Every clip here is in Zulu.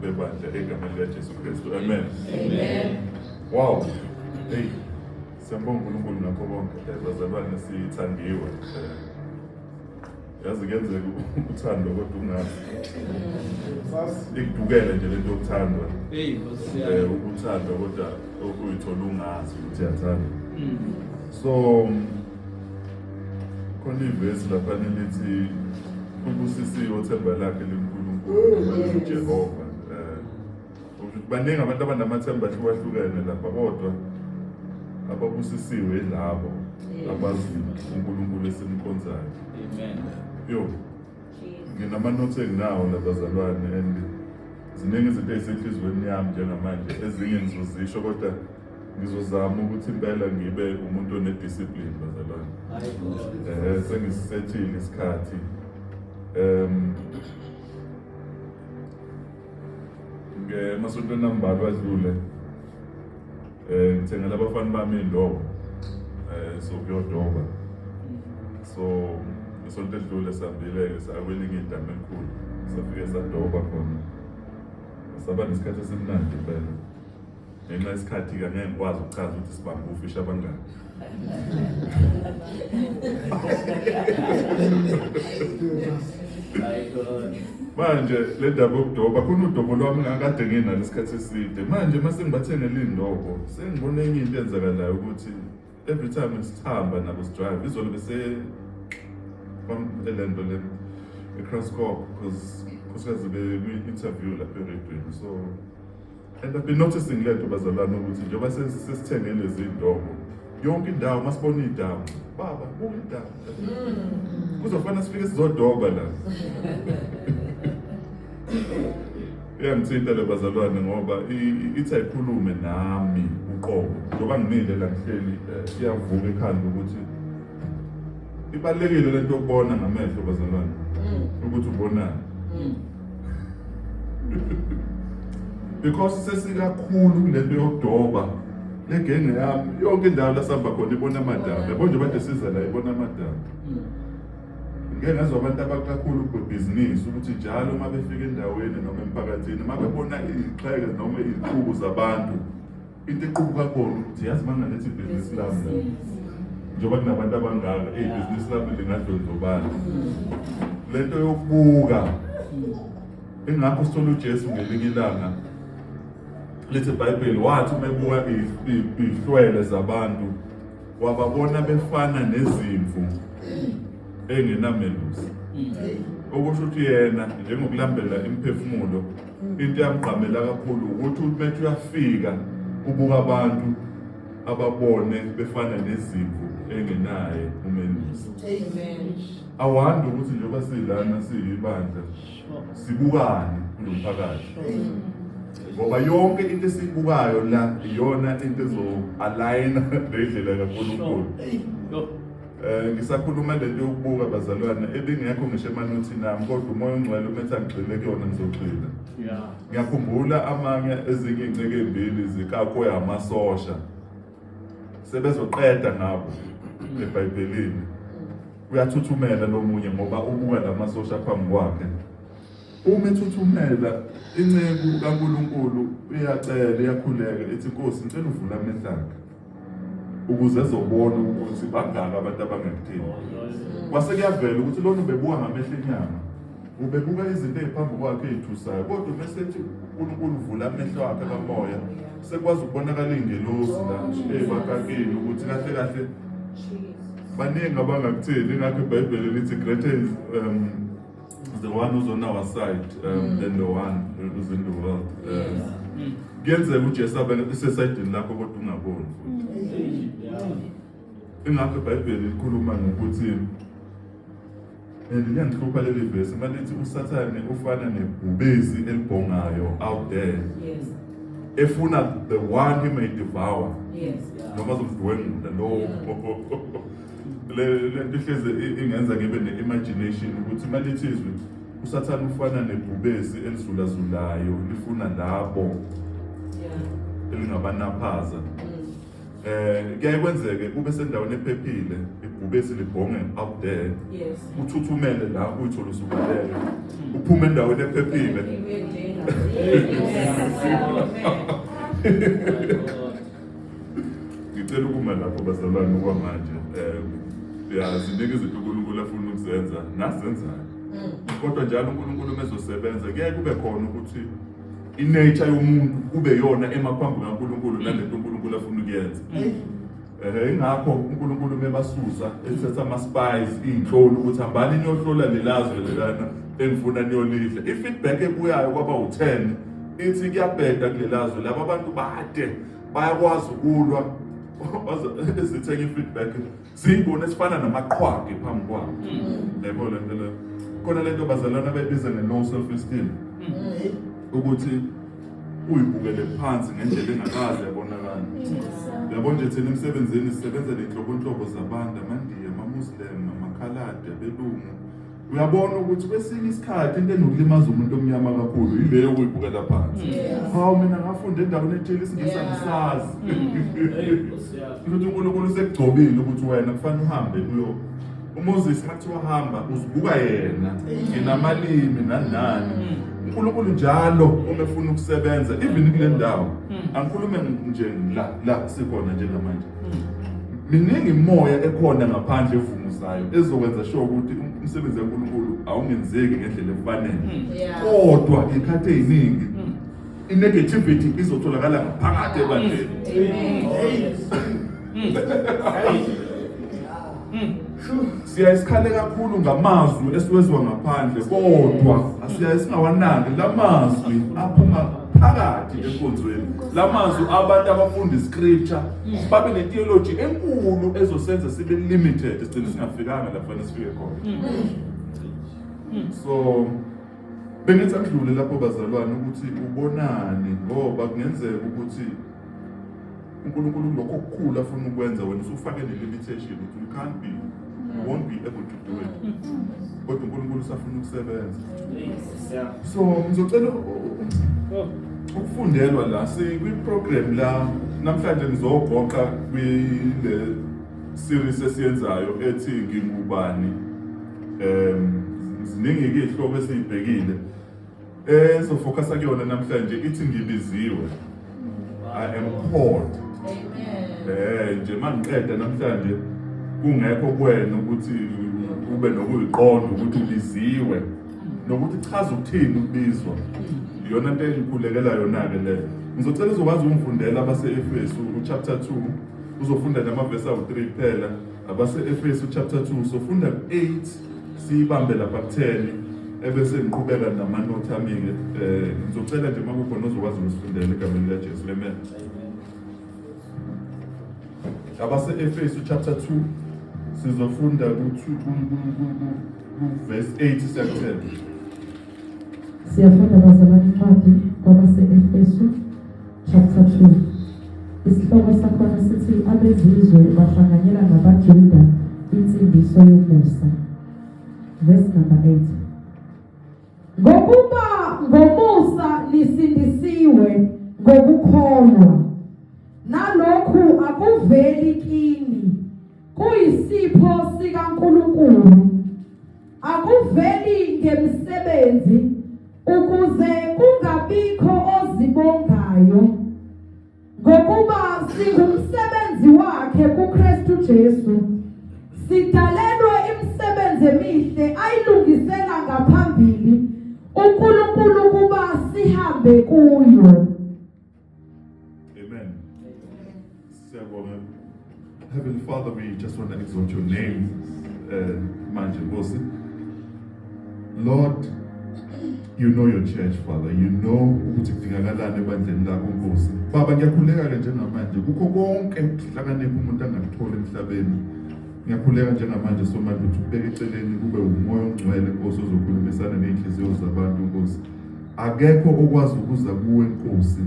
bebandla egameni likaJesu Kristu. Amen. Amen. Wow. Hey. Siyambonga uNkulunkulu nakho konke. Bazalwane sithandiwe. Yazi kenzeka uthando kodwa ungazi. Ikudukele nje lento yokuthandwa. Hey, eh ukuthandwa kodwa okuyithola ungazi ukuthi yathanda. Mm. So khona ivesi lapha nilithi ubusisiwe othemba lakhe linkulunkulu jehova um baningi abantu abanamathemba ahlukahlukene lapha kodwa ababusisiwe yilabo abaziyo unkulunkulu esimkhonzayo yo nginamanothi enginawo labazalwane and ziningi izinto ezisenhliziyweni yami njengamanje ezinye ngizozisho kodwa ngizozama ukuthi impela ngibe umuntu onediscipline bazalwane eh sengisisethile isikhathi um ngemasontweni ambalwa adlule eh ngithengela abafana bami indobo eh so kuyodoba so isonto edlule sambile-ke sakwelinye idama elikhulu safike sadoba khona saba nesikhathi esimnandi impela ngenxa yesikhathi ke ngeke ngikwazi ukuchaza ukuthi sibambe ufishi abangani manje le ndaba yokudoba khona udobo lwami ngakade nginalo isikhathi eside manje uma sengibathengele iy'ndobo sengibona enye into enzakalayo ukuthi every time sihamba nabo sidrive izolo bese le nto le ecrosscorp because khosikazi bekwi-interview lapha eredweni so And I've been noticing lento bazalwane ukuthi njengoba sesithenge lezi ndobo yonke indawo masibona idamu baba buka idamu mm. kuzofana sifike sizodoba la iyangithinta le bazalwane ngoba ithi ayikhulume nami uqobo njengoba ngimile la ngihleli eh, iyavuka ekhanda ukuthi ibalulekile lento yokubona ngamehlo bazalwane mm. ukuthi ubonani mm. because sesikakhulu kunento yokudoba legenge yami yonke indawo lasihamba khona ibona amadaba yabo nje bade siza la ibona amadaba ngeke ngezwa abantu abakakhulu kwebhizinisi ukuthi njalo uma befika endaweni noma emphakathini uma bebona iy'xheke noma iy'qubu zabantu into equbuka kubona ukuthi yazi bangalethi ibhizinisi lami la njengoba kunabantu abangaka eyi ibhizinisi lami lingadlondlobala le nto yokubuka ingakho sithola ujesu ngelinye ilanga lithi ibhayibheli wathi uma ebuka iy'hlwele zabantu wababona befana nezimvu engenamelusi okusho ukuthi yena njengokulandela imiphefumulo into yamgqamela kakhulu ukuthi uMethi uyafika ubuka abantu ababone befana nezimvu engenaye umelusi awandi ukuthi njengoba silana siyibandla sibukane kulo mphakathi ngoba yonke into esibukayo la iyona into ezo-aligna nendlela kankulunkulu Eh, ngisakhuluma le nto yokubuka bazalwane ebingekho ngisho emanothini ami kodwa umoya ongcwele umethi angigxile kuyona ngizogxila ngiyakhumbula amanye ezinye iy'nceke ey'mbili zikakwe amasosha sebezoqeda ngabo ebhayibhelini uyathuthumela lo munye ngoba ubuka la masosha phambi kwakhe uma ethuthumela inceku kankulunkulu iyacela iyakhuleka ithi nkosi ngicela uvula amehlange ukuze ezobona ukuthi bangaki abantu abangakudingi kwase kuyavela ukuthi lona ubebuka ngamehlo enyama ubebuka izinto eziphambi kwakhe ezithusayo kodwa uma esethi uNkulunkulu uvula amehlo akhe kamoya sekwazi ukubonakala ingelosi la ezibakakeni ukuthi kahle kahle baningi abangakutheli ngakho ibhayibheli lithi greater um, the one who's on our side um, mm. than the one who's in the world um, kuyenzeka ujesu abe isesayidini lakho kodwa ungaboni ingakho ibhayibheli likhuluma ngokuthi and liyangihlupha leli vesi uma lithi usathane ufana nebhubezi elibhongayo out there efuna the one he may devour noma zomdwengula lowo le le nto ihleze i- ingenza ngibe ne-imagination ukuthi uma lithi izwi usathane ufana nebhubesi elizulazulayo lifuna labo Yeah. elingabanaphaza Mm. eh kuyaye kwenzeke ube sendaweni ephephile ibhubesi libhonge up there Yes. uthuthumele la uyithole usubalele uphume endaweni ephephile Ibuye njena. Yes. Amen. ngicela ukuma lapho bazalwane okwamanje um siyazinika izinto unkulunkulu afuna ukuzenza nazenzayo mm. kodwa njalo unkulunkulu uma ezosebenza kuyaye kube khona ukuthi inature yomuntu kube yona emaphambi kankulunkulu nalento unkulunkulu afuna ukuyenza mm. Eh ingakho uNkulunkulu mebasusa ethetha ama spies izinhloli ukuthi hambani niyohlola lelazwe lelana engifuna niyolidla. I feedback ebuyayo kwaba u10 ithi kuyabheda kulelazwe laba bantu bade bayakwazi ukulwa ezithenga i-feedback ziyibona esifana namaqhwagi phambi kwabo mm. yebo le nto leyo khona le nto bazalwana bebiza nge-low self esteem mm. ukuthi uyibukele phansi ngendlela engakaze yabonakala yabo nje thina emsebenzini sisebenza nenhlobonhlobo zabantu amandiya amamuslim amakhaladi abelungu uyabona ukuthi kwesinye isikhathi into enokulimaza umuntu omnyama kakhulu yile yokuyibukela phansi hawu mina ngafunda endaweni ethile isingisa ngisazi ukuthi unkulunkulu usekugcobile ukuthi wena kufanele uhambe uyo umoses mathi wahamba uzibuka yena nginamalimi nanani unkulunkulu njalo uma efuna ukusebenza even kule ndawo angikhulume nje la la sikhona njengamanje miningi imoya ekhona ngaphandle evunguzayo ezokwenza sho ukuthi umsebenzi kaNkulunkulu awungenzeki ngendlela efanele hmm. kodwa ikhathi eziningi hmm. inegativity izotholakala ngaphakathi ebandleni hmm. siya isikhale kakhulu ngamazwi esiwezwa ngaphandle kodwa asiya esingawanaki lamazwi aphuma phakathi enkonzweni lamazwi abantu abafunda iscripture babe netheology enkulu ezosenza sibe limited sigcine singafikanga lapha nesifike khona so bengithi akudlule lapho bazalwane ukuthi ubonani ngoba kungenzeka ukuthi uNkulunkulu kulokho okukhulu afuna ukwenza wena usufake le limitation ukuthi you can't be you won't be able to do it kodwa uNkulunkulu usafuna ukusebenza so ngizocela ukufundelwa la sikwi-program la namhlanje ngizogoqa kwile series esiyenzayo ethi ngingubani um ziningi-ke iy'hloko esiyibhekile ezofokasa kuyona namhlanje ithi ngibiziwe i am called eh nje mangiqeda namhlanje kungekho kwena ukuthi ube nokuyiqonda ukuthi ubiziwe nokuthi chaza ukuthini ukubizwa iyona nto engikhulekela yona-ke leyo ngizocela uzokwazi ukungifundela abase-efesu uchapter 2 uzofunda namavesi awu-3 kuphela abase-efesu chapter 2 sofunda ku-8 siyibambe lapha kutheni ebese ngiqhubeka namanothi ami-ke um ngizocela nje uma kukhona ozokwazi ukusifundela egameni likajesu lemen abase-efesu chapter 2 sizofunda ku-verse 8 siyakuthela Siyafunda bazalwane incwadi kwabase-Efesu chapter 2. Isihloko sakhona sithi abezizwe bahlanganyela nabaJuda insindiso yomusa. Verse number 8. Ngokuba ngomusa lisindisiwe ngokukholwa. Nalokhu akuveli kini kuyisipho sikaNkulunkulu Akuveli ngemsebenzi ukuze kungabikho ozibongayo ngokuba singumsebenzi wakhe kuKristu Jesu. Sidalelwe imisebenzi emihle ayilungisela ngaphambili uNkulunkulu ukuba sihambe kuyo. Amen. Amen. Heavenly Father, we just want to exalt your name, uh, Manje Lord, you know your church father you know ukuthi kudingakalani ebandleni lakho nkosi baba ngiyakhuleka-ke njengamanje kukho konke ukuhlakanipha umuntu angakuthola emhlabeni ngiyakhuleka njengamanje somandla ukuthi ukubeka eceleni kube wumoya ongcwele nkosi ozokhulumisana ney'nhliziyo zabantu nkosi Akekho okwazi ukuza kuwe Nkosi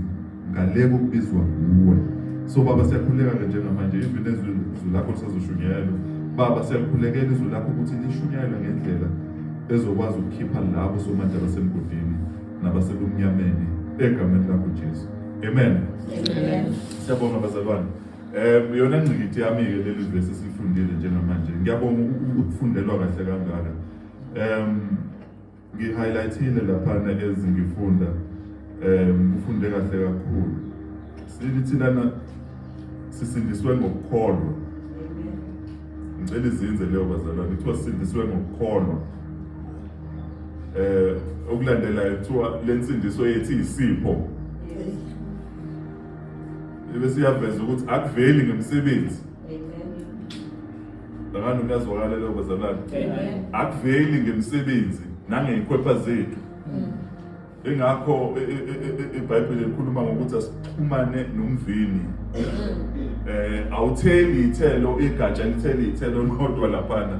ngale kokubizwa nguwe. So Baba siyakhuleka-ke njengamanje even ezwi lakho lisazoshunyayelwa. Baba siyakhulekela izwi lakho ukuthi lishunyayelwe ngendlela ezokwazi ukukhipha labo somanje abasemgodini nabasebumnyameni egameni lakho Jesu. Amen. Amen. Siyabonga bazalwane. Um yona ngqikithi yami-ke leli vesi esilifundile njengamanje ngiyabonga ukufundelwa kahle kangaka um Ngi-highlightile laphana ezi ngifunda um ngifunde kahle kakhulu sibili thilana sisindiswe ngokukholwa ngicela izinze leyo bazalwane kuthiwa sisindiswe ngokukholwa eh okulandelayo kuthiwa le nsindiso yethu iyisipho bese iyaveza ukuthi akuveli ngemsebenzi Ngani kuyazwakala lokho bazalwane. Akuveli ngemisebenzi nangekhwepha zethu. Mm. Ingakho e, e, e, iBhayibheli likhuluma ngokuthi asixhumane nomvini. Mm. Eh awutheli ithelo igatsha litheli ithelo kodwa laphana.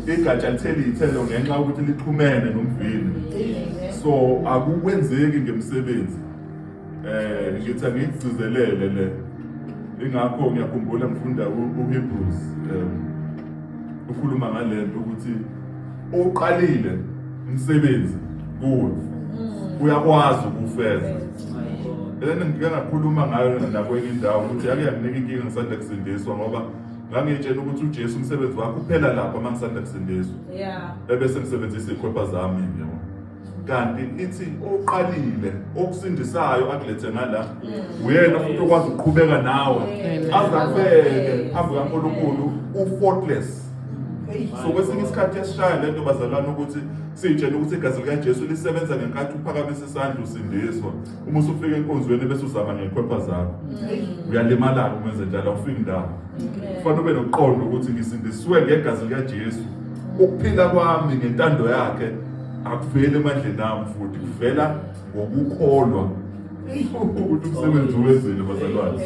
Igatsha litheli ithelo ngenxa ukuthi lixhumene nomvini. So akukwenzeki ngemisebenzi. Eh ngithi angikugcizelele le. Ingakho ngiyakhumbula ngifunda uHebrews eh ukhuluma ngalento ukuthi oqalile umsebenzi kuwe mm. uyakwazi ukufeza. Lena ngike ngakhuluma ngayo nakwenye indawo ukuthi yake yanginika inkinga ngisanda kusindiswa ngoba ngangitshela ukuthi uJesu umsebenzi wakhe uphela lapha uma ngisanda kusindiswa. Yeah. Ebese ngisebenzisa ikhwepha zami yabo. kanti ithi oqalile okusindisayo akulethe ngala uyena futhi okwazi ukuqhubeka nawe azakubeke phambi kaNkulunkulu ufaultless so kwesinye isikhathi yasishaya lento bazalwane ukuthi sitshene ukuthi igazi likaJesu lisebenza ngenkathi uphakamise isandla usindiswa uma usufika enkonzweni bese uzama ngekhwepha zakho mm. uyalimala-ke uma enze njalo awufiki ndawo kufanele ube noqondo ukuthi ngisindisiwe ngegazi likajesu ukuphila kwami ngentando yakhe akuveli emandleni ami futhi kuvela ngokukholwa ukuthi umsebenzi wezile bazalwane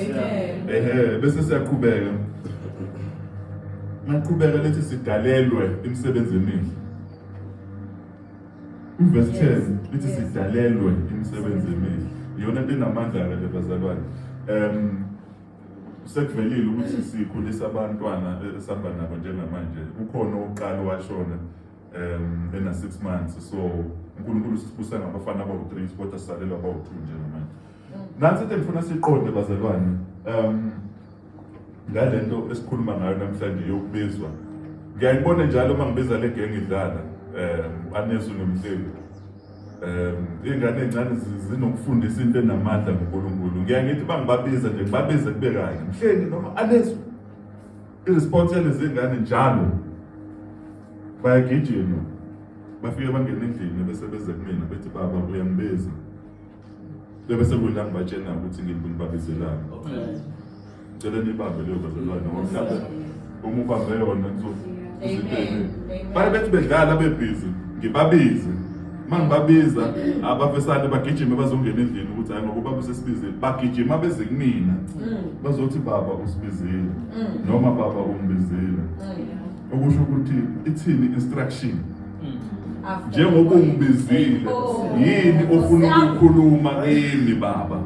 ehe bese siyaqhubeka maqhubeka lethi sidalelwe imisebenzi emihle Ivesi 10 lithi sidalelwe imisebenzi emihle. Iyona nto enamandla ke bazalwane. Um sekuvelile ukuthi sikhulisa abantwana esihamba nabo njengamanje. Kukhona oqala washona um ena 6 months so uNkulunkulu sibusa ngabafana abawu-3 kodwa sisalelwa abawu-2 njengamanje. Nansi into engifuna siqonde bazalwane. Um ngale nto esikhuluma ngayo namhlanje yokubizwa ngiyayibona njalo uma ngibiza le genge idlala um anesu nomhleli um iy'ngane ey'ncane zinokufundisa into enamandla ngonkulunkulu ngiya ngithi uba ngibabiza nje ngibabize kube kanye mhleli noma anesu i-response yalezi ngane njalo bayagijima bafike bangena endlini bese beze kumina bethi baba uyangibiza Bebe sekudla ngibatshena ukuthi ngimbi ngibabizelani. Cela nibambe leyo bazalwane ngoba mhlawumbe uma ubambe yona kuzoziteni. Baye bethi bedlala bebhizi ngibabize. Uma ngibabiza abafesane bagijime bazongena endlini ukuthi hayi ngokuba besesibizile bagijima beze kumina bazothi baba usibizile noma baba umbizile. Okusho ukuthi ithini instruction njengoba ungibizile yini ofuna ukukhuluma kimi baba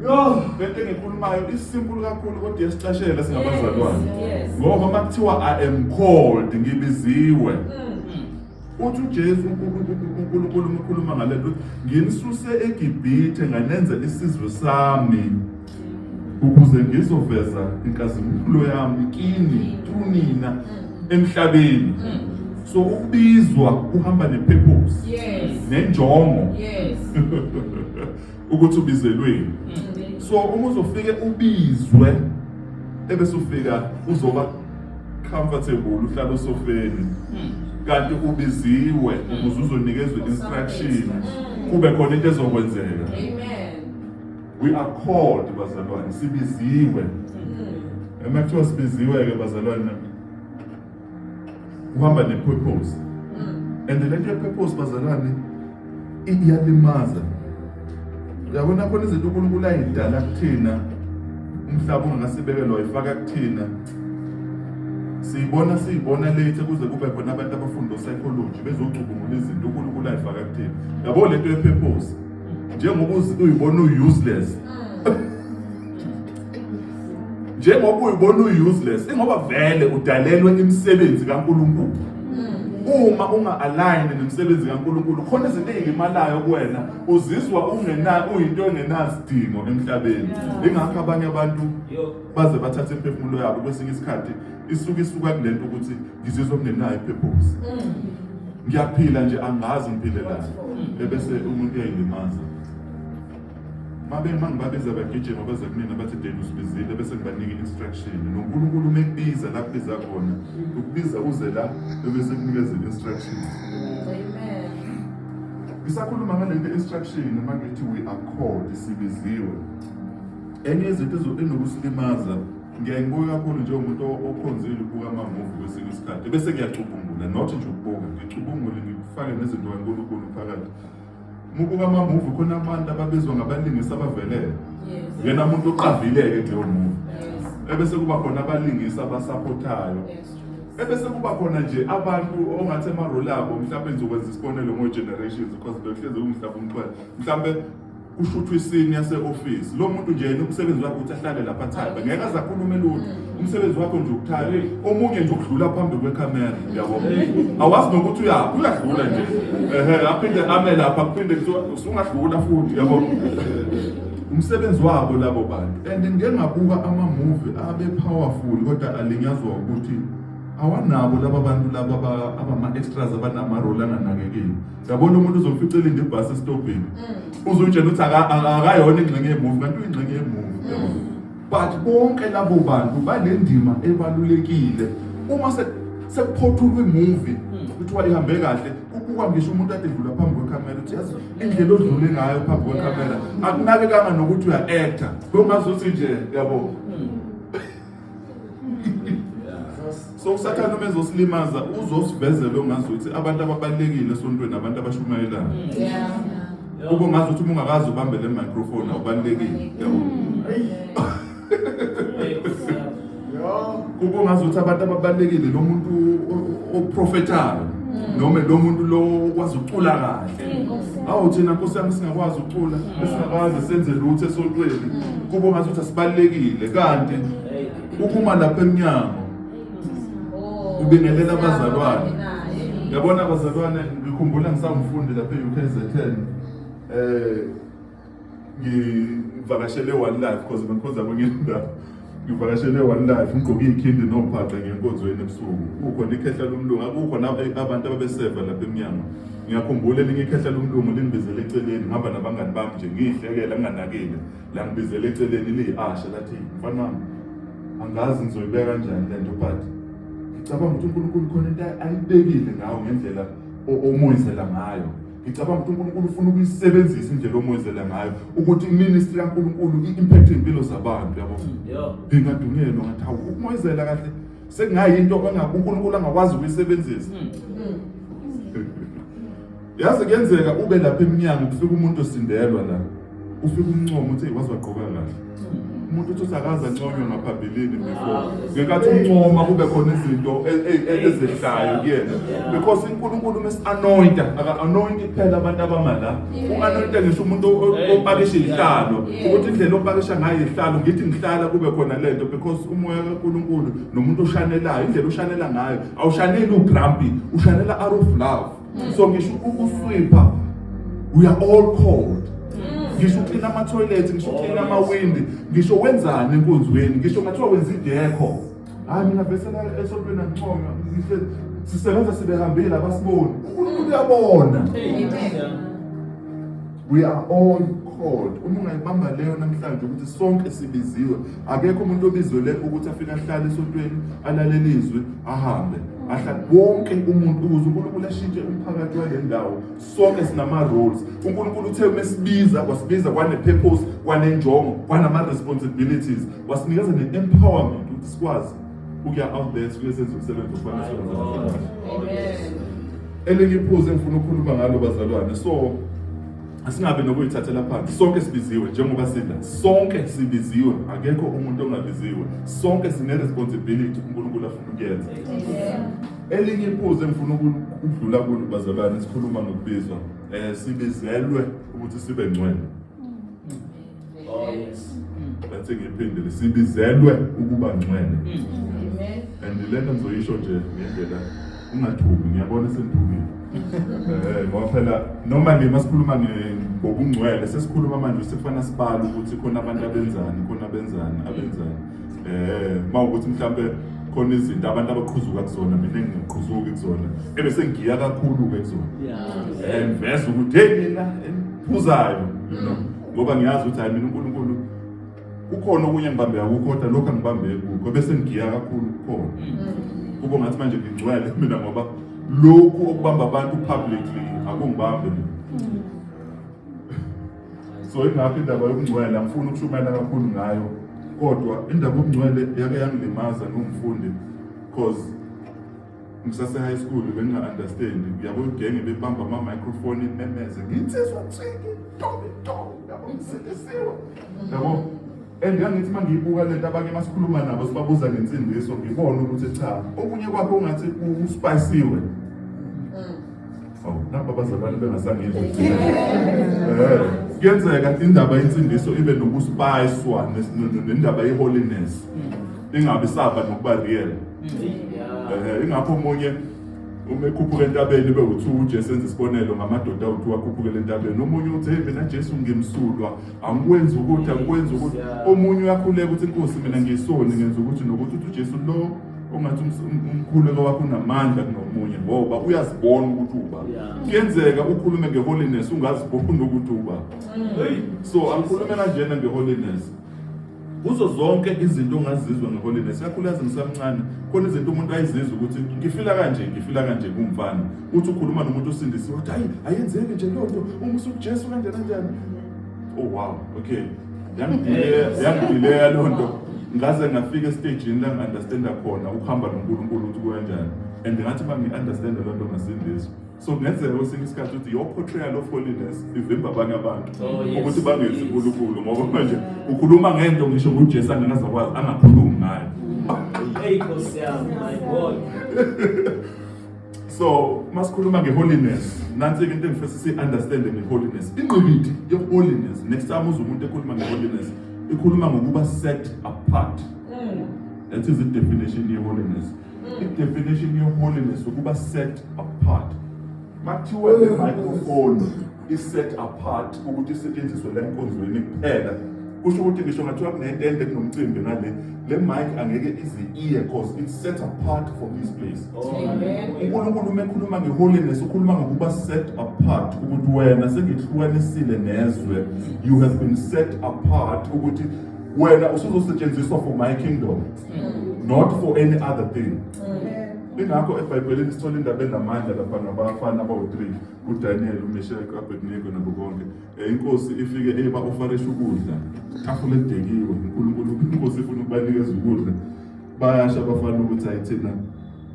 Yo, lento engikhulumayo isimpulu kakhulu kodwa yesicashela singabazalwane. Ngoba makuthiwa I am called ngibiziwe. Mm. Uthi uJesu uNkulunkulu ukhuluma ngalento nginisuse eGibhithe nganenza isizwe sami. ukuze ngizoveza inkazimulo yami kini kunina emhlabeni so ukubizwa kuhamba nepurpose yes. nenjongo yes. ukuthi ubizelweni so uma uzofike ubizwe ebese ufika uzoba comfortable uhlala usofeni kanti ubiziwe ukuze uzonikezwe instruction kube khona into ezokwenzeka amen we are called bazalwane sibiziwe uma kuthiwa sibiziwe-ke bazalwane kuhamba ne-purpose and le nto ye-purpose bazalwane iyalimaza uyabona khona izinto unkulunkulu ayidala kuthina umhlaba ungakasibekelwa wayifaka kuthina siyibona siyibona late kuze kube khona abantu abafunda psychology bezocubungula izinto unkulunkulu ayifaka kuthina yabo le nto ye-purpose njengoba uyibona uyi-useless njengoba uyibona uyi-useless ingoba vele udalelwe imisebenzi kankulunkulu uma unga-align nemisebenzi kankulunkulu khona izinto ey'limalayo kuwena uzizwa uyinto engenasidingo emhlabeni ingakho abanye abantu baze bathathe imphefumulo yabo kwesinye isikhathi isuke isuka kule nto ukuthi ngizizwa ngingenayo ipurpose ngiyaphila nje angazi ngiphilelani ebese umuntu uyayilimaza mabema ngibabiza bagijima baze kumina bathi deni usibizile bese ngibanika i-instruction nonkulunkulu uma ekubiza la kubiza khona ukubiza uze la ebese kunikeza i-instruction ngisakhuluma ngale nto instruction uma ngithi we are called sibiziwe enye izinto enokusilimaza ngiyaye ngibuke kakhulu njengomuntu okhonzile ukubuka amamuvi kwesinye isikhathi bese ngiyacubungula not nje ukubuka ngicubungule ngifake nezinto kankulunkulu phakathi mubuka amamuvi khona abantu ababizwa ngabalingisi abavelele yena muntu oqavile-ke kuleyo muvi ebese kuba khona abalingisi abasaphothayo ebese kuba khona nje abantu ongathi emaroli abo mhlawumbe ngizokwenza isibonelo ngo-generations because behlezi kungihlaba umxhwele mhlawumbe kushuthwa isini yase-ofisi lo muntu nje yena umsebenzi wakhe ukuthi ahlale lapha athabe ngeke aze akhulume lutho umsebenzi wakho nje ukuthabe omunye nje ukudlula phambi kwekhamera yabo awazi nokuthi uyaphi uyadlula nje ehe aphinde ame lapha kuphinde kuthiwa usungadlula futhi yabo umsebenzi wabo labo bantu and ngike ngabuka amamuvi abe powerful kodwa alinyazwa ukuthi awanabo laba bantu laba abama-extras abanama-role anganakekeli yabona umuntu uzomfica elinde ibhasi esitobhini mm. uzutshela ukuthi akayona ingxenye yemuvi kanti uyingxenye yemuvi mm. but bonke labo bantu banendima ebalulekile uma sekuphothulwa imuvi mm. kuthiwa ihambe kahle kubukwa ngisho umuntu ade dlula phambi kwekhamera ukuthi yazi indlela odlule ngayo phambi kwekhamera akunakekanga nokuthi uya-acta kongazuthi nje yabo so usathane uma ezosilimaza uzosivezela ongazi ukuthi abantu ababalulekile esontweni abantu abashumayelayo kube ngazi ukuthi uma ungakazi ubambe le microphone awubalulekile yabo kube ngazi ukuthi abantu ababalulekile lo muntu oprofethayo noma lo muntu lo kwazi ucula kahle awu thina nkosi yami singakwazi ukucula esingakwazi senze lutho esontweni kubo ngathi ukuthi asibalekile kanti ukuma lapha emnyango ubingelela abazalwane yabona abazalwane ngikhumbula ngisawumfundi lapha e-UKZN eh ngivakashele one life because bengikhonza kwenye indawo ngivakashele one life ngigqoke ikhindi nobhaqa ngenkonzweni ebusuku kukhona ikhehla lomlungu akukho abantu ababeseva lapha emnyango ngiyakhumbula elinye ikhehla lomlungu lingibizele eceleni ngihamba nabangani bami nje ngiyihlekela nginganakile la ngibizele eceleni liyi-asha lathi mfana wami angazi ngizoyibeka kanjani le nto but ngicabanga ukuthi unkulunkulu khona into ayibekile ngawo ngendlela omoyizela ngayo ngicabanga ukuthi uNkulunkulu ufuna ukuyisebenzisa indlela omwezela ngayo ukuthi iministry kaNkulunkulu i-impact impilo zabantu yabo ngingadunyelwa ngathi hawu ukumwezela kahle sekungayinto uNkulunkulu angakwazi ukuyisebenzisa hmm. yazi kuyenzeka ube lapha eminyango kufika umuntu osindelwa la ufike umncoma uthi waze wagqoka kahle umuntu uthi usakaza nconywe ngaphambilini before ngenkathi uncoma kube khona izinto e- e- e- ezehlayo kuyena because unkulunkulu mesi-anointa aka-anointi kuphela abantu abama la u-anointa ngisho umuntu opakisha ihlalo ukuthi indlela opakisha ngayo ihlalo ngithi ngihlala kube khona le nto because umoya kankulunkulu nomuntu oshanelayo indlela oshanela ngayo awushaneli ugrampi ushanela out of love so ngisho ukuswipha we are all called ngisho uklina amathoyilethi ngisho uklina amawindi ngisho wenzani enkonzweni ngisho ngathiwa wenza idekho hayi mina vesela esontweni anginconywa sisebenza sibehambile abasiboni unkulunkulu uyabona we are all called uma ungayibamba leyo namhlanje ukuthi sonke sibiziwe akekho umuntu obizwele ukuthi afike ahlale esontweni alalele izwi ahambe ahlale wonke umuntu ukuze unkulunkulu ashintshe umphakathi wale ndawo sonke sinama-roles unkulunkulu uthe uma sibiza kwasibiza kwane-purpose kwanenjongo kwanama-responsibilities wasinikeza ne-empowerment ukuthi sikwazi ukuya out there sibuye senze umsebenzi ofana elinye iphuzu engifuna ukukhuluma ngalo bazalwane so asingabe nokuyithathela phansi sonke sibiziwe njengoba sidla sonke sibiziwe akekho umuntu ongabiziwe sonke sine-responsibility unkulunkulu afuna ukuyenza elinye iphuzu engifuna ukudlula kulo bazalwane sikhuluma ngokubizwa um sibizelwe ukuthi sibe ngcwele Oh, Ngathi ngiphindile sibizelwe ukuba ngcwele. And lena ngizoyisho nje ngendlela ungathuki ngiyabona sengithukile. Eh ngoba phela noma nje masikhuluma ngobungcwele sesikhuluma manje sifana sibala ukuthi khona abantu abenzani khona abenzani abenzani. Eh mawukuthi mhlambe khona izinto abantu abaqhuzuka kuzona mina ngingaqhuzuki kuzona ebe sengiya kakhulu ke kuzona. Yeah. Eh ngiveza ukuthi hey mina engiphuzayo you know. ngoba ngiyazi ukuthi hayi mina uNkulunkulu kukhona okunye ngibambeka kukho kodwa lokho angibambeki kukho bese ngigiya kakhulu kukhona mm. kubo ngathi manje ngigcwele mina ngoba lokhu okubamba abantu publicly akungibambe mina mm. so ingakho indaba yokungcwele angifuni ukushumayela kakhulu ngayo kodwa indaba yokungcwele yake yangilimaza ngumfundi because ngisase high school benginga-understand uyabo igenge bebamba ama-microfoni imemeze nginsizwa nsiki tobe tobe yabo ngisilisiwe yabo and ngangithi uma ngiyibuka le nto abanye uma sikhuluma nabo sibabuza ngensindiso ngibone ukuthi cha okunye kwakho ungathi usipayisiwe nabo abazalwane bengasangeni eh, kuyenzeka indaba yensindiso ibe nokuspayiswa nendaba ye-holiness ingabi saba nokuba real eh, ingakho omunye uma ekhuphuka entabeni ibe uthi ujesu enza isibonelo ngamadoda awuthi wakhuphukela entabeni omunye uthi hey mina jesu ngimsulwa angikwenzi ukuthi angikwenzi ukuthi omunye uyakhuleka ukuthi inkosi mina ngiyisoni ngenza ukuthi nokuthi uthi ujesu lo ungathi um, um, umkhuleko wakho unamandla kunomunye ngoba uyazibona ukuthi uba kuyenzeka ukhulume ngeholiness ungaziboni ukuthi uba mm. so angikhulume kanjena ngeholiness kuzo zonke izinto ongazizwa ngeholiness kakhulukazi ngisamncane khona izinto umuntu ayizizwa ukuthi ngifila kanje ngifila kanje kumfana uthi ukhuluma nomuntu osindisiwe ukuthi hayi ayenzeki nje loo nto umusa ujesu kanjani kanjani Oh wow, okay. Yangidileya, yangidileya loo nto. Ngaze ngafika estejini la ngi-understanda khona ukuhamba noNkulunkulu ukuthi kukanjani. And ngathi uma ngi-understanda loo nto ngasindiswa. So kungenzeka kwesinye isikhathi ukuthi your portrayal of holiness ivimba abanye abantu Oh, yes. ukuthi bangenzi Yes. uNkulunkulu ngoba manje ukhuluma ngento ngisho uJesu angakazakwazi angakhulumi ngayo. Hey, Nkosi yami, my God. so masikhuluma nge-holiness nansi-ke into engifisa si-understande nge-holiness ingqikithi ye-holiness next time uze umuntu ekhuluma nge-holiness ikhuluma ngokuba set apart mm. that is the definition ye-holiness mm. i-definition ye-holiness ukuba set apart makuthiwa le microphone i-set apart ukuthi isetshenziswe la enkonzweni kuphela kusho ukuthi ngisho ngathiwa kunetende kunomcimbi ngale le mic angeke ize iye cause it's set apart for this place unkulunkulu uma ekhuluma nge-holiness ukhuluma ngokuba set apart ukuthi wena sengihlukanisile nezwe you have been set apart ukuthi wena usuzosetshenziswa for my kingdom mm. not for any other thing ingakho ebhayibhelini sithola indaba enamandla lapha nabafana abawu-three uDaniel uMeshaki uAbednego nabo konke eh, inkosi ifike eba ofarisha ukudla tafula edekiwe uNkulunkulu inkosi ifuna ukubanikeza ukudla bayasha abafana ukuthi ayithina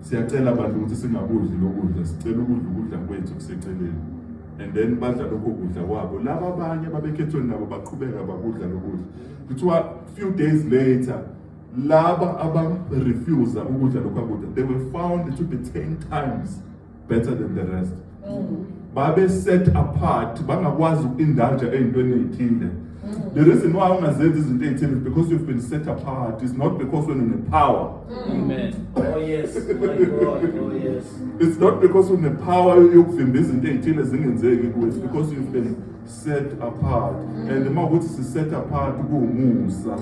siyacela abantu ukuthi singakudli lokudla sicela ukudla ukudla kwethu kuseceleni and then badla lokho kudla kwabo laba abanye babekhethweni nabo baqhubeka bakudla lokudla kuthiwa few days later laba abarefusa ukudla lokho kudla they were found to be 10 times better than the rest mm. babe set apart bangakwazi ukuindulge ey'ntweni ey'thile mm. the reason why ungazenzi izinto ey'thile is because you've been set apart it's not because when une power mm. Amen. Oh, yes. My God. Oh, yes. it's not because une power yokuvimba izinto ey'thile zingenzeki kuwe it's because you've been set apart mm. and uma ukuthi si set apart kuwumusa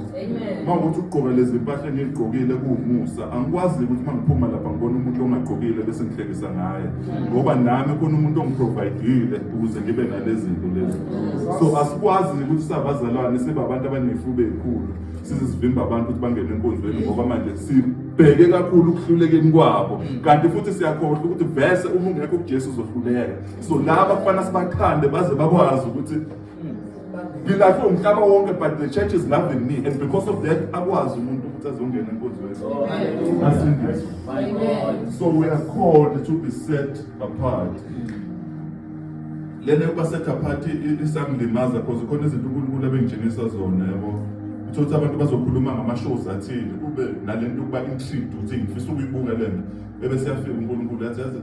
uma ukuthi ugqoka lezi mpahla engigqokile kuwumusa angikwazi ukuthi uma ngiphuma lapha ngibona umuntu ongagqokile bese ngihlekisa ngaye mm. ngoba nami khona umuntu ongiprovidile ukuze ngibe nalezi zinto lezi mm. so asikwazi ukuthi sabazalwane sibe abantu abanefuba ekhulu size sivimba abantu ukuthi bangene enkonzweni ngoba manje si bheke kakhulu ukuhlulekeni kwabo kanti futhi siyakhohlwa ukuthi vese uma ungekho kuJesu uzohluleka sizolaba kufana sibakhande baze bakwazi ukuthi ngilahlwe umhlaba wonke but the church is loving me and because of that akwazi umuntu ukuthi azongena enkonzweni asindiswe so we are called to be set apart lena yokuba set apart isangilimaza because khona izinto unkulunkulu abengitshengisa zona yabo uthole ukuthi abantu bazokhuluma ngama-shows athile kube nale nto yokuba intrigued ukuthi ngifisa ukuyibuka le nto bebe siyafika unkulunkulu yathi yazi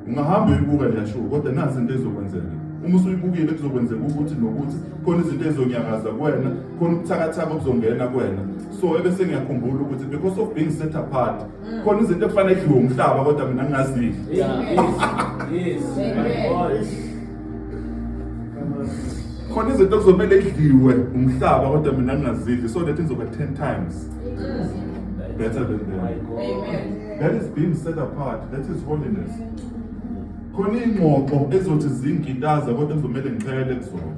ungahamba uyibuka le show kodwa nazi into ezokwenzeka uma usuyibukile kuzokwenzeka ukuthi nokuthi khona izinto ezonyakaza kuwena khona ubuthakathaka obuzongena kuwena so ebese ngiyakhumbula ukuthi because of being set apart mm. khona izinto ekufanele kudliwe umhlaba kodwa mina ngingazidli khona izinto kuzomele idliwe umhlaba kodwa mina ngingazidli so that izoba 10 times better than them. Amen. That is being set apart. That is holiness. Khona ingxoxo ezothi zingitaza kodwa kuzomele ngichelele kuzona.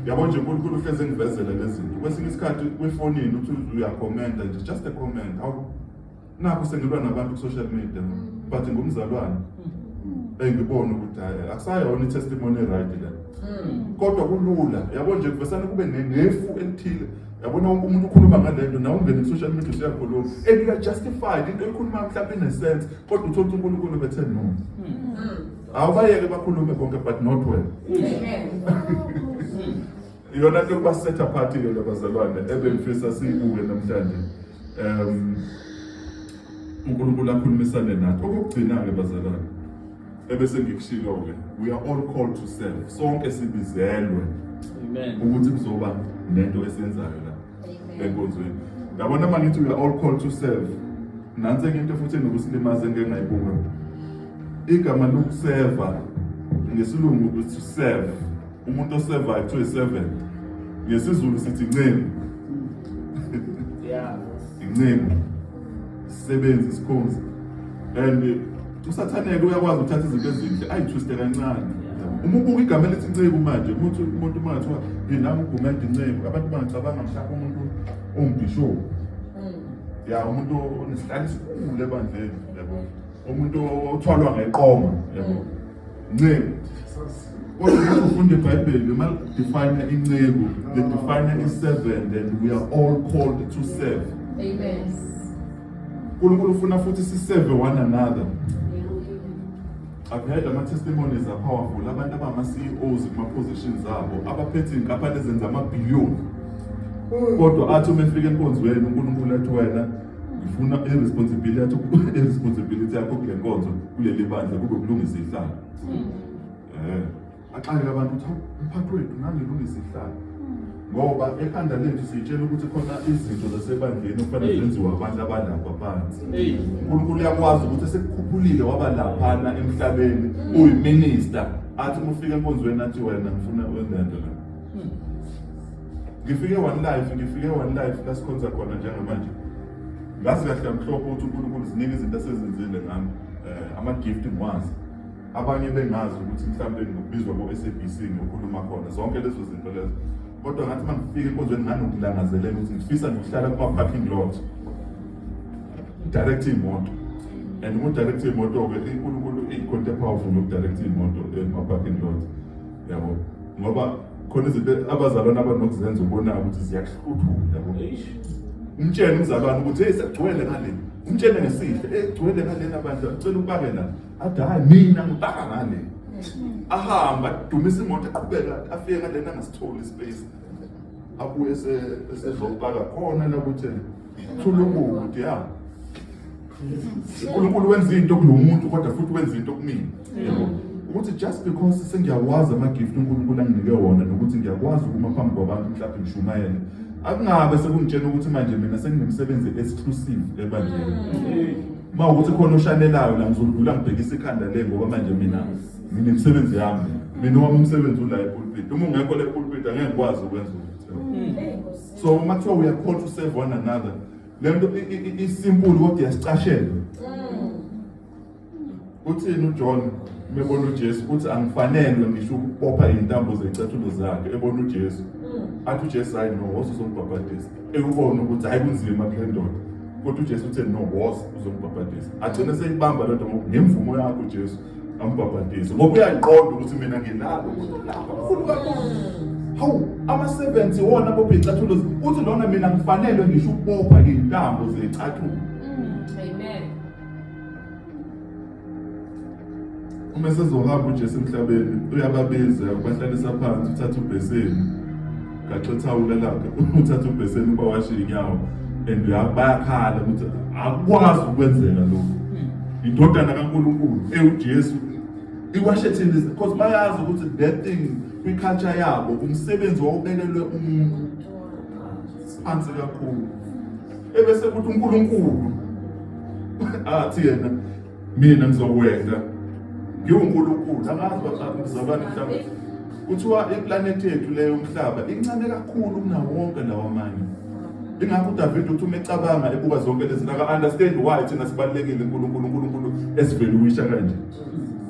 Yabo nje uNkulunkulu uhleze ngivezele lezi zinto. Kwesinye isikhathi kwifonini uthi uyakhomenta nje just a comment. Awu nakho sengilwa nabantu ku-social media but ngumzalwane engibona ukuthi hayi akusayona i-testimony right le kodwa kulula yabo nje kuvesane kube ne- nefu elithile yabona wonke umuntu ukhuluma ngale nto nawe ungene ku-social media usuyakhuluma and uya-justified into eyikhuluma mhlawumbe inesense kodwa uthole ukuthi unkulunkulu bethe no awubayeke bakhulume konke but not well Amen. Iyona nto yokuba set apart ke le bazalwane ebengifisa siyibuke namhlanje. Um uNkulunkulu akhulumisane nathi. Okugcina ke bazalwane ebese ngikushilo ke we are all called to serve. Sonke sibizelwe. Amen. Ukuthi kuzoba nento esenzayo la enkonzweni. Yabona mangithi we are all called to serve. Nansi enye into futhi enokusilimaza engeke ngayibuka. Igama lokuseva ngesilungu ukuthi serve umuntu osevayo kuthiwa i-seven ngesizulu sithi inceku inceku isisebenzi isikhonzi and usathaneke uyakwazi ukuthatha izinto ezinhle ayithwiste kancane uma ubuka igama elithi inceku manje umuntu umuntu uma ngathiwa yena ugumede inceku abantu bangacabanga mhlawumbe umuntu owumbhishophu hmm. ya umuntu onesihlalo esikhulu ebandleni yabo umuntu othwalwa ngeqoma yabo nceku kodwa ufunda ibhayibheli uma define inceku they define i-servant and we are all called to serve amen unkulunkulu ufuna futhi siseve one another I've heard ama-testimonies are powerful abantu abama-ceos kuma-positions abo abaphethe iy'nkampani ezenza amabhiliyoni kodwa athi uma efika enkonzweni unkulunkulu athi wena Ngifuna i-responsibility i-responsibility yakho kule nkonzo kuleli bandla kube kulungisa ihlala. Eh. Axakeke abantu ukuthi umphathi wethu nganilungisa ihlala. Ngoba ekhanda lethu sitshela ukuthi khona izinto zasebandleni okufanele zenziwe abantu abalapha phansi. uNkulunkulu uyakwazi ukuthi esekukhuphulile waba laphana emhlabeni uyiminister athi uma ufika enkonzweni athi wena ngifuna wenzento la. Ngifike one life, ngifike one life lasikhonza khona njengamanje. Ngazi kahle amhlophe ukuthi uNkulunkulu ziningi izinto asezenzile ngami. Eh ama-gift ngwazi. Abanye bengazi ukuthi mhlawumbe ngibizwa ko-SABC ngiyokhuluma khona zonke lezo zinto lezo. Kodwa ngathi uma ngifika enkonzweni nganokulangazelela ukuthi ngifisa ngiyohlala kuma-parking lot. Direct imoto. And umu-direct imoto-ke uNkulunkulu ikhonto ephawufuni ukudirect imoto ema-parking lot. Yabo. Ngoba khona izinto abazalwane abanokuzenza ubona ukuthi ziyakuhluthula yabo umtshele umzalwane ukuthi hey sekugcwele ngale umtshele ngesihle hey kugcwele ngalena bandla ucela ubake la athi hayi mina ngibaka ngale ahamba adumisa imoto eqhubeka afike ngalena angasitholi ispace abuye esezobaka khona la ukuthi Thulungude ya. uNkulunkulu wenza into kulomuntu kodwa futhi wenza into kumina. Yebo. Ukuthi just because sengiyawazi ama gift uNkulunkulu anginike wona nokuthi ngiyakwazi ukuma phambi kwabantu mhlawumbe ngishumayele. Akungabe sekungitshena ukuthi manje mina senginemsebenzi exclusive ebandleni. Uma ukuthi khona oshanelayo la ngizodlula ngibhekisa ikhanda le ngoba manje mina nginemsebenzi yami. Mina wami umsebenzi ula epulpit. Uma ungekho le pulpit angeke ngikwazi ukwenza ukuthi. so uma kuthiwa uyakhona to serve one another le nto isimpulu kodwa iyasicashela mm. uthini ujohn mebona ujesu uthi angifanelwe ngisho ukubopha iy'ntambo zey'cathulo zakhe ebona ujesu mm. athi ujesu hayi no woza uzongibhabhadisa ekubona ukuthi hhayi kunzima kule ndoda kodwa ujesu uthe no woza uzongibhabhadisa agcine seyibamba le nto ngoku ngemvumo yakho ujesu ambhabhadise ngoba uyaqonda ukuthi mina nginalo mkhulu kakhulu hawu ama-70 wona abopha iy'cathulo uthi lona mina ngifanelwe ngisho ukubopha iy'ntambo zey'cathulo uma esezohamba ujesu emhlabeni uyababiza ubahlalisa phansi uthatha ubheseni gaxa ithawula lakhe uthatha ubheseni uba washe inyawo and bayakhala ukuthi akukwazi ukwenzeka lokhu hmm. indodana kankulunkulu ewujesu iwashe thina because bayazi ukuthi that thing kwi-culture yabo umsebenzi wawubekelwe umuntu siphansi kakhulu ebese kuthi unkulunkulu athi yena mina ngizokwenza ngiwunkulunkulu angazi bazalwane mhlawumbe kuthiwa iplanethi yethu leyo umhlaba incane kakhulu kunawo wonke lawo amanye ingakho udavide uthi uma ecabanga ebuka zonke lezi zinto aka-understand why thina sibalulekile unkulunkulu unkulunkulu esiveluwisha kanje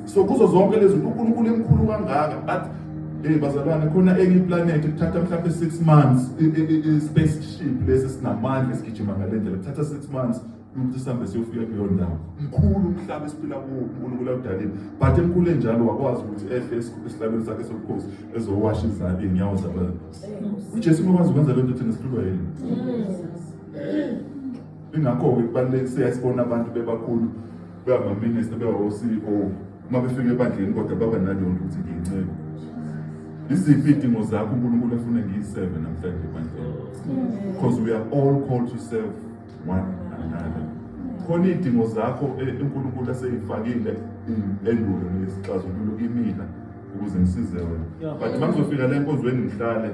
so kuzo zonke lezi zinto unkulunkulu emkhulu kangaka but Hey bazalwane khona enye iplanethi kuthatha mhlawumbe 6 months i-spaceship lesi sinamandla esigijima ngalendlela kuthatha 6 months ukuthi sihambe siyofika kuleyo ndawo mkhulu umhlaba esiphila kuwo unkulunkulu awudalile but emkhulu enjalo wakwazi ukuthi ehle esihlabeni sakhe sobukhosi ezowasha izandla iy'nyawo zabantu ujesu ungakwazi ukwenza le nto thina sihlulwa yini ingakho-ke kubaluleke siyasibona abantu bebakhulu bebamaminista bebawo-ceo uma befika ebandleni kodwa baba naleyo nto ukuthi ngiyinceku iziphi iy'dingo zakho unkulunkulu afune ngiyi-seven namhlanje ebandleni because we are all called to serve khona iy'dingo zakho e, unkulunkulu eseyifakile endulo nesixazululo kimina ukuze ngisize wena but uma ngizofika le nkonzweni ngihlale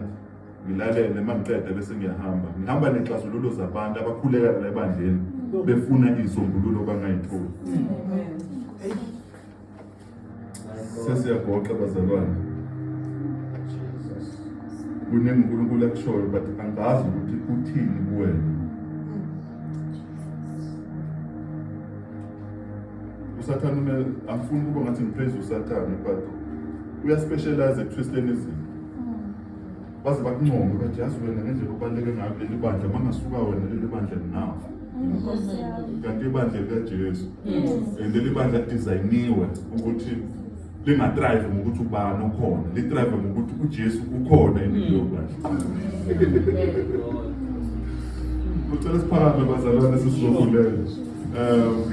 ngilalele uma ngiqede bese ngiyahamba ngihamba ney'xazululo zabantu abakhuleka la ebandleni befuna iy'sombululo bangayitholi sesiyagoqa bazalwane kuningi unkulunkulu akushoyo but angazi ukuthi uthini kuwena usathane ume angifuni ukuba ngathi ngiphezulu usathane but uyaspecialize ekutwisteni izinto baze bakuncome bathi yazi wena ngendlela ubaluleke ngayo leli bandla mangasuka wena leli bandla linafa kanti ibandla likajesu and leli bandla lidizayiniwe ukuthi lingatrive ngokuthi ubani okhona litrive ngokuthi ujesu ukhona empilo kucela siphakame bazalwane sesizokulela um